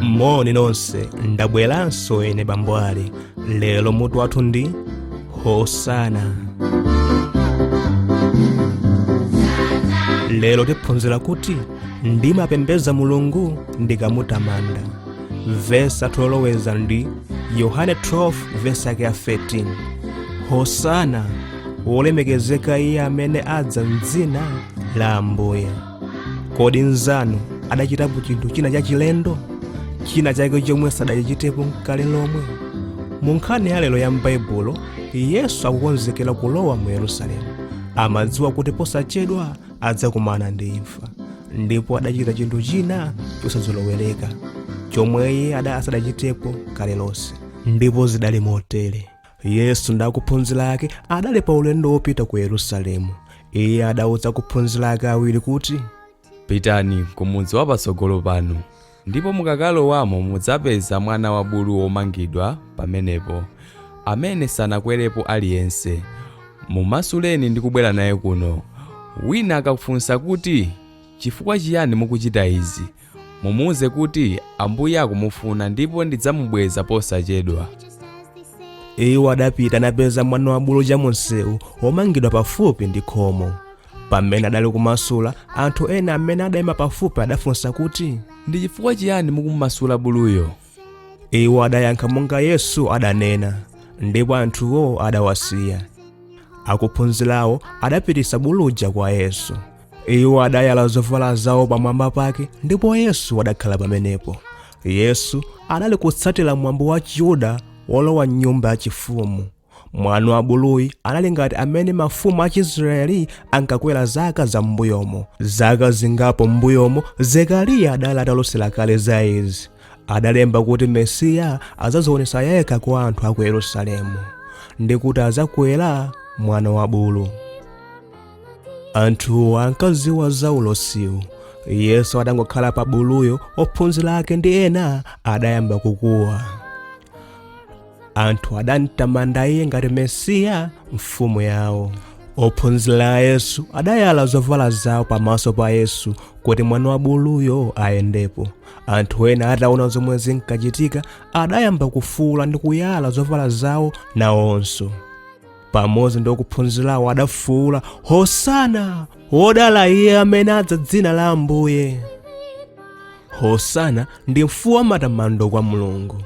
moni nonse ndabweranso ine bambo ali lero mutu wathu ndi hosana lero tiphunzira kuti ndimapembedza mulungu ndikamutamanda vesi lathu loloweza ndi yohane 12 vesi yake ya 13 hosana wolemekezeka iye amene adza mdzina la ambuye kodi mnzanu adachitapo chinthu china chachilendo china chake chomwe sadachitepo nkale lomwe mu nkhani ya lero ya m'baibulo yesu akukonzekera kulowa mu yerusalemu amadziwa kuti posachedwa adzakumana ndi imfa ndipo adachita chinthu china chosazolowereka chomwe iye ada asadachitepo kale lonse ndipo zidali motere yesu ndi akuphunzira ake adali pa ulendo wopita ku yerusalemu iye adauza akuphunzira ake awiri kuti pitani ku mudzi wapatsogolo panu Ndipo mukakalowamo mudzapeza mwana wa bulu womangidwa pamenepo, amene sanakwerepo aliyense. Mumasuleni ndi kubwera naye kuno. Wina akafunsa kuti, Chifukwa chiyani mukuchita izi? Mumuuze kuti, Ambuye akumufuna ndipo ndidzamubweza posachedwa. Iwo adapita napeza mwana wa bulu cha mumsewu, womangidwa pafupi ndi khomo. pamene adali kumasula anthu ena amene adayima pafupi adafunsa kuti ndi chifukwa chiyani mukumasula buluyo iwo adayankha monga yesu adanena ndipo anthuwo adawasiya akuphunzirawo adapititsa bulu uja kwa yesu iwo adayala zovala zawo pamwamba pake ndipo yesu adakhala pamenepo yesu adali kutsatira mwambo wa chiyuda wolowa m'nyumba yachifumu Mwana wa buluyi anali ngati amene mafumu a Chiisiraeli ankakwera zaka za m'mbuyomo. Zaka zingapo m'mbuyomo, Zekariya adali atalosera kale za izi. Adalemba kuti Mesiya adzadzionetsa yekha kwa anthu a ku Yerusalemu, ndi kuti adzakwera mwana wa bulu. Anthuwo ankadziwa za ulosiwu. Yesu atangokhala pa buluyo, ophunzira ake ndi ena adayamba kukuwa. anthu adamtamanda iye ngati mesiya mfumu yawo ophunzira a yesu adayala zovala zawo pamaso pa yesu kuti mwana wa buluyo ayendepo anthu ena ataona zomwe zinkachitika adayamba kufuula ndi kuyala zovala zawo nawonso pamodzi ndi ophunzirawo adafuula hosana wodala iye amene adza mdzina la ambuye hosana ndi mfuwu wa matamando kwa mulungu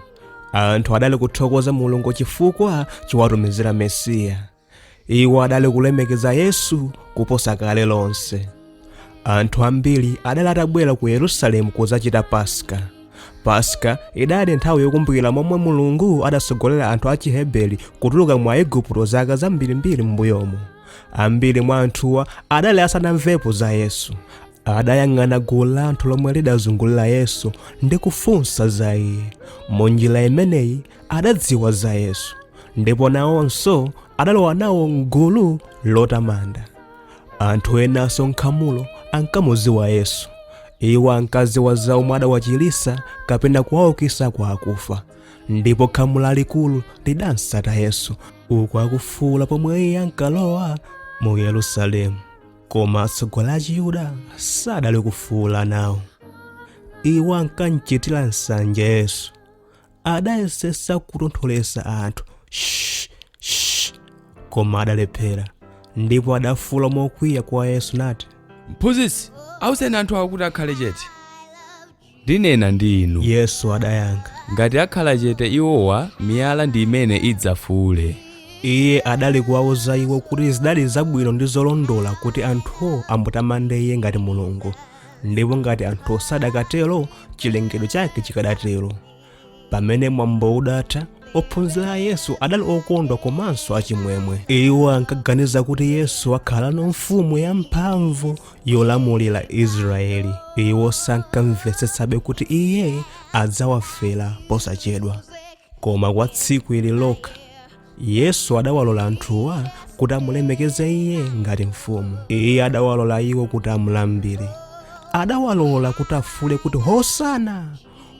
anthu adali kuthokoza mulungu chifukwa chowatumizira mesiya iwo adali kulemekeza yesu kuposa kale lonse anthu ambiri adali atabwera ku yerusalemu kudzachita paska paska idali nthawi yokumbukira momwe mulungu adatsogolera anthu a chiheberi kutuluka mu aigupto zaka zambirimbiri m'mbuyomo ambiri mwa anthuwa adali asanamvepo za yesu adayang'ana gulu la anthu lomwe lidazungulira yesu ndi kufunsa za iye munjira imeneyi adadziwa za yesu ndipo nawonso adalowa nawo mgulu lotamanda anthu enanso mkhamulo ankamudziwa yesu iwo ankadziwa za omwe adawachiritsa kapena kuwaukisa kwa akufa ndipo khamu lalikulu lidamtsata yesu uku akufuula pomwe iye ankalowa mu yerusalemu koma atsogoleri achiyuda sadali kufuula nawo iwo ankamchitira nsanje yesu adayesetsa kutontholetsa anthu "Shh, shh," koma adalephera ndipo adafuula mokwiya kwa yesu nati mphunzitsi awuzeni anthu awo kuti akhale chete Ndinena ndi inu. Yesu adayankha. Ngati akhala chete iwowa, miyala ndi imene idzafuule. Iye adali kuwauza iwo kuti zidali zabwino ndi zolondola kuti anthuwo amutamande Iye ngati Mulungu, ndipo ngati anthuwo sadakatero, chilengedwe chake chikadatero. pamene mwambo udatha ophunzira a yesu adali okondwa komanso achimwemwe iwo ankaganiza kuti yesu akhalano mfumu yamphamvu yolamulira israeli iwo sankamvetsetsabe kuti iye adzawafera posachedwa koma kwa tsiku ili lokha yesu adawalola anthuwa kuti amulemekeze iye ngati mfumu iye adawalola iwo kuti amulambire adawalola kuti afuule kuti hosana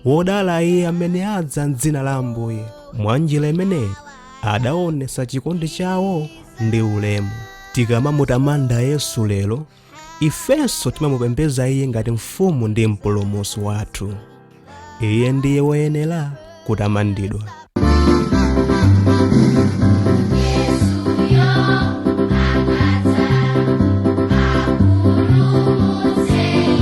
wodala iye amene adza mdzina la ambuye mwa njira imeneyi adaonetsa chikondi chawo ndi ulemu tikamamutamanda yesu lero ifenso timamupembedza iye ngati mfumu ndi mpulumutsi wathu iye ndiye woyenera kutamandidwa